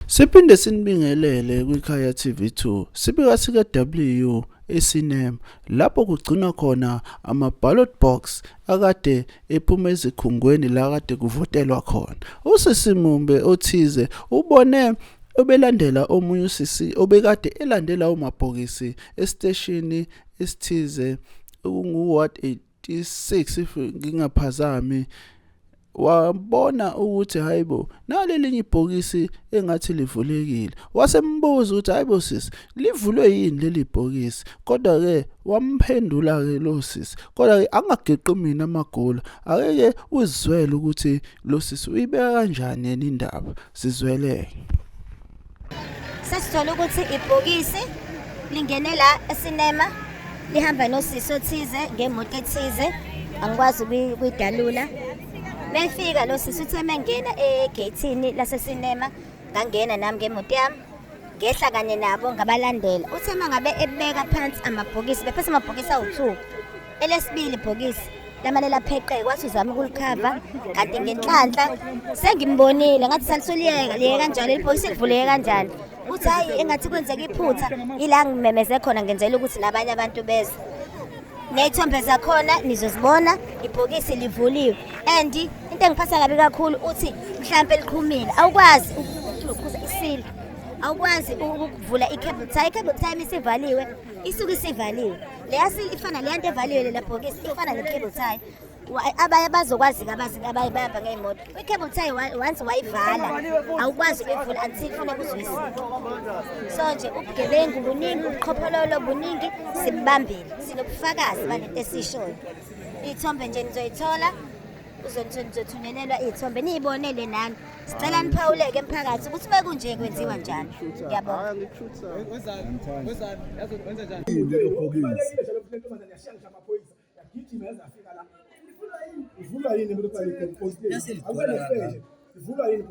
Siphinde sinibingelele kwiKhaya TV2 sibika sika W eSinem lapho kugcinwa khona ama ballot box akade ephuma ezikhungweni la kade kuvotelwa khona. Usisi Mumbe othize ubone obelandela omunye usisi obekade elandela umabhokisi esiteshini esithize okungu-ward 26 if ngingaphazami wabona ukuthi hayibo nalelinye ibhokisi engathi livulekile wasembuza ukuthi hayibo sisi livulwe yini leli bhokisi kodwa ke wamphendula ke lo sisi kodwa ke angageqi mina amagolo akeke uzizwele ukuthi lo sisi uyibeka kanjani yena indaba sizweleke sesithola ukuthi ibhokisi lingene la esinema lihamba nosisi othize ngemoto ethize angikwazi ukuyidalula mefika lo sisi uthe mengena egeyithini lasesinema ngangena nami ngemoto yami ngehla kanye nabo ngabalandela uthe mangabe ebeka phansi amabhokisi bephethe amabhokisi awu-two Elesibili ibhokisi lamane lapheqeke wathi uzama ukulikhava kanti ngenhlanhla sengimbonile ngathi salisoliyeka liyeka kanjalo ilibhokisi livuleke kanjani uthi hayi engathi kwenzeka iphutha ila ngimemeze khona ngenzela ukuthi nabanye abantu beze ney'thombe zakhona nizozibona ibhokisi livuliwe and into engiphatha kabi kakhulu uthi mhlawumpe liqhumile awukwazi ukukhuza isile awukwazi ukuvula i-cable tie i-cable tie isivaliwe isuke isivaliwe leya sili ifana leya nto evaliwe lela bhokisi ifana ne-cable tie Wa- abanye bazokwazi-ke abazi abanye bayahamba ngey'moto i-cable tie wa- once wayivala awukwazi ukuyivula until funeka uzwisile so nje ubugebengu buningi ubuqhophololo buningi sibubambile sinobufakazi balento esishoyo iy'thombe nje nizoyithola uzothunyelelwa iy'thombe niyibonele nani sicela niphawuleke emphakathi ukuthi uma kunje kwenziwa njani ngiyabonga ivulwa yini ivulwa yini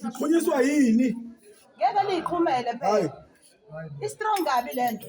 ikhunyiswa yini ngeke niyiqhumele phela i-strong kabi le nto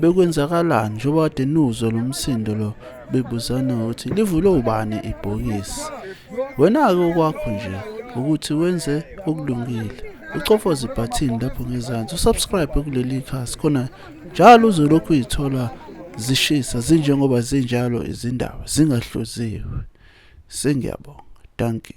Bekwenzakalani njengoba kade niwuzwa lo msindo lo bebuzana ukuthi livulwe ubani ibhokisi. Wena-ke okwakho nje ukuthi wenze okulungile. Ucofoze ibhathini lapho ngezansi usubscribe kuleli khasi khona njalo uzolokhu uyithola zishisa zinjengoba zinjalo izindaba zingahluziwe. Sengiyabonga. Dankie.